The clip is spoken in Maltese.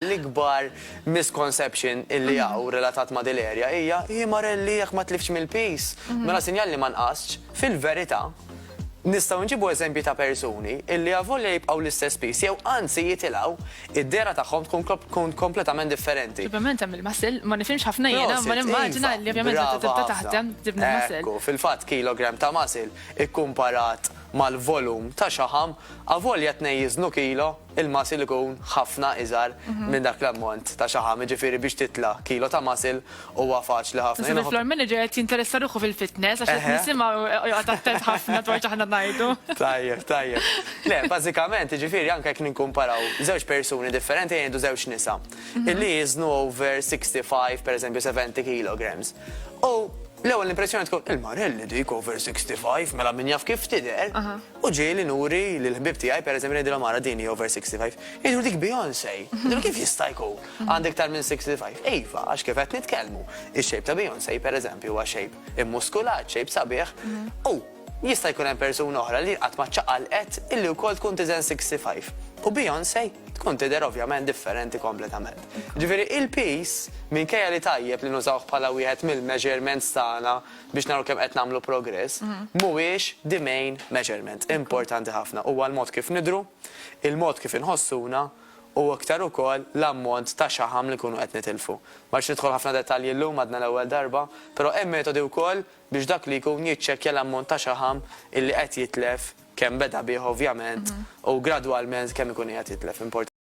l-ikbar misconception illi mm. għaw relatat ma' dil-erja hija hi marelli jekk ma tlifx mill-pis. Mm. Mela sinjal li ma nqasx fil-verità Nistgħu nġibu eżempji ta' persuni illi avolja jibqgħu l-istess piż jew anzi jitilgħu, id-dehra tagħhom tkun kompletament differenti. Ovvjament hemm il-muscle, ma nifhimx ħafna jiena, imma nimmaġina illi ovvjament meta tibda taħdem tibni l-muscle. Ekku, fil-fatt kilogram ta' muscle ikkumparat mal-volum ta' xaħam, avolja tnejn jiżnu kilo, Il-muscle ikun ħafna iżgħar minn dak l-ammont ta' xaħam, jiġifieri biex titla' kilo ta' muscle huwa faċli ħafna. Naħseb il-floor manager qed jinteressa ruħu fil-fitness għax qed nisimgħu joqgħod attent ħafna dwar x'aħna ngħidu. Tajjeb, tajjeb. Le, bażikament, jiġifieri anke jekk nikkumparaw żewġ persuni differenti, ejja ngħidu żewġ nisa, illi jiżnu over 65 pereżempju 70 kilograms. U l-ewwel impressjoni tkun, il-marelli dik over 65, mela min jaf kif tidher. U ġieli nuri lil ħbieb tiegħi pereżempju ngħidilhom ara din hi over 65. Jgħiduli dik Beyonce. Ngħidilhom kif jista' jkun? Għandha iktar minn 65. Iva, għax kif qed nitkellmu, ix-shape ta' Beyonce pereżempju huwa shape immuskulat, shape sabiħ, u jista' jkun hemm persuna oħra li qatt ma ċċaqalqet illi wkoll tkun tiżen 65. U Beyonce tkun tidher ovvjament differenti kompletament. Ġifieri il-piż, minkejja li tajjeb li nużawh bħala wieħed mill-measurements tagħna, biex naraw kemm qed nagħmlu progress, mhuwiex the main measurement. Importanti ħafna huwa l-mod kif nidhru, il-mod kif inħossuna u iktar ukoll l-ammont ta' xaħam li nkunu qed nitilfu. Ma rridx nidħol ħafna dettalji llum għadna l-ewwel darba, però hemm metodi wkoll biex dak li jkun jiċċekkja l-ammont ta' xaħam illi qed jitlef, kemm beda bih ovvjament u gradwalment kemm ikun qiegħed jitlef.